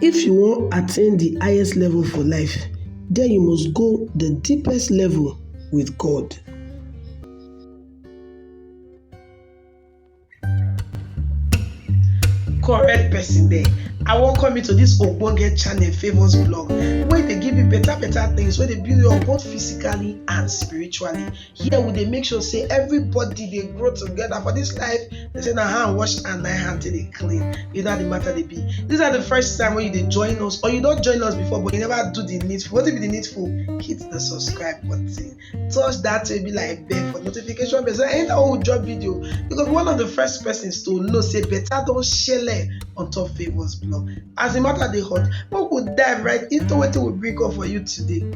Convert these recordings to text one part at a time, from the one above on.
If you wan attain the highest level for life, then you must go the deepest level with God. correct person there i welcome you to this ogbonge channel famous blog wey dey give you better better things wey dey build you up both physically and spiritually here we dey make sure say everybody dey grow together for this life they say na hand wash and na hand till dey clean you know how the matter dey be this are the first time when you dey join us or you don join us before but you never do the needful wetin be the needful hit the subscribe button touch that way be like bell for notification bell so anytime we drop video you go be one of the first persons to know say better don shele on top favours blog as the matter dey hot make we dive right into wetin we bring up for you today.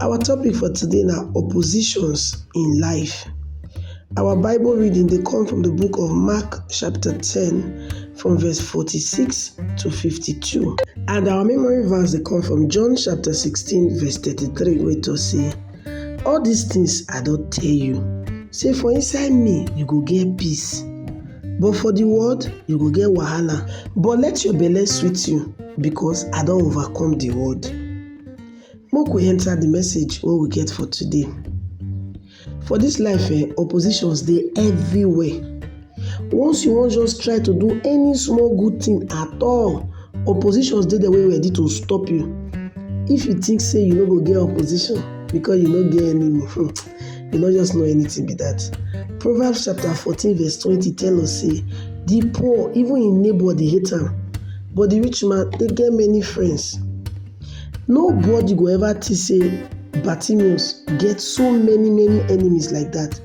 Our topic for today na oppositions in life. Our Bible reading dey come from the book of Mark chapter 10 from verse 46 to 52 and our memory verse dey come from John chapter 16 verse 33 wey talk say, All these things I don tell you, say for inside me you go get peace, but for the world you go get wahala, but let your belle sweet you because I don overcome the world. Make we enter the message wey we get for today. For this life eh, oppositions dey everywhere. Once you wan just try to do any small good thing at all, oppositions dey there wey ready to stop you. If you think say you no go get opposition because you no get enemy, hmm, you no just know anything be that. Proverbs chapter fourteen verse twenty tell us say, the poor, even im neighbor dey hate am, but the rich man dey get many friends. Nobody go ever think say Bartimaeus get so many many enemies like that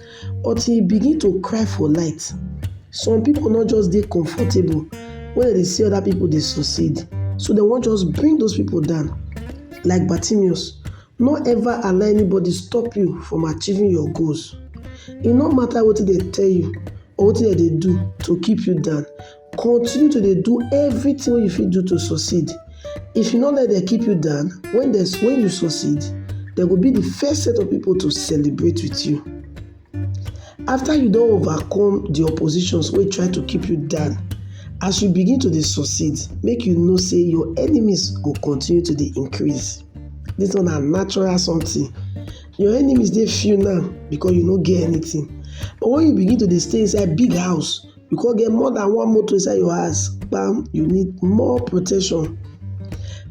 until he begin to cry for light. Some people no just dey comfortable when dem dey see other people dey succeed, so dem wan just bring those people down. Like Bartimaeus, no ever allow anybody stop you from achieving your goals. E no matter wetin dem tell you or wetin dem dey do to keep you down. Continue to dey do everything wey you fit do to succeed. If you no let dem keep you down, when dem when you succeed, dem go be the first set of people to celebrate with you. After you don overcome the oppositions wey try to keep you down, as you begin to dey succeed, make you know say your enemies go continue to dey increase. This one na natural something. Your enemies dey few now because you no get anything. But when you begin to dey stay inside big house, you come get more than one motor inside your house bam you need more protection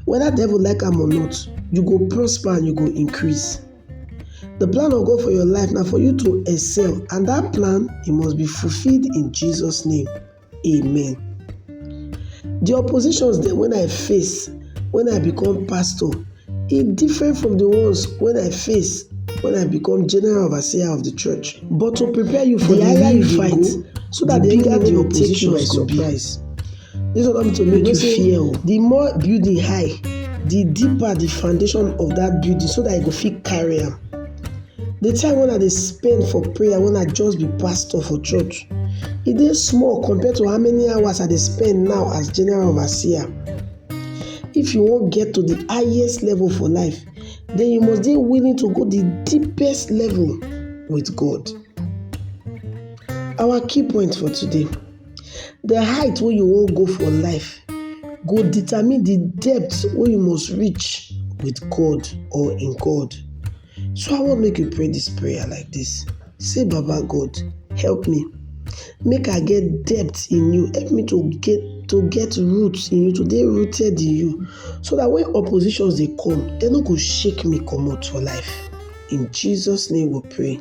whether devil like am or not you go prosper and you go increase the plan of god for your life na for you to excel and that plan e must be fulfilled in jesus name amen the oppositions dem when i face when i become pastor E different from the ones when I face when I become general overseer of the church. But to prepare you for the, the real fight, so that the bigger the opposition by surprise. This one not to make you fear. Oh. The more building high, the deeper the foundation of that building, so that you go fit carry them. The time when I dey spend for prayer when I just be pastor for church, it e is small compared to how many hours I dey spend now as general overseer. If you wan get to the highest level for life, then you must dey willing to go the deepest level with God. Our key point for today, the height wey you wan go for life go determine the depth wey you must reach with God or in God. So I wan make you pray this prayer like this. Say, Baba God, help me. Make I get depth in you. Help me to get to get roots in you, to dey rooted in you. So that when oppositions dey come, they no go shake me comot for life. In Jesus' name we pray.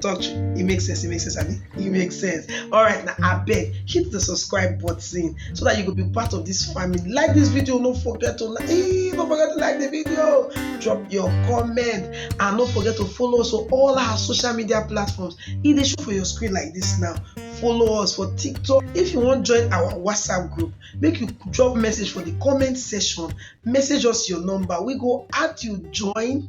touch it makes sense it makes sense abi it makes sense all right now I beg hit the subscribe button so that you could be part of this family like this video no forget to like hey, don't forget to like the video drop your comment and don't forget to follow us on all our social media platforms e dey show for your screen like this now follow us for tiktok if you wan join our whatsapp group make you drop message for the comment section message us your number we go add you join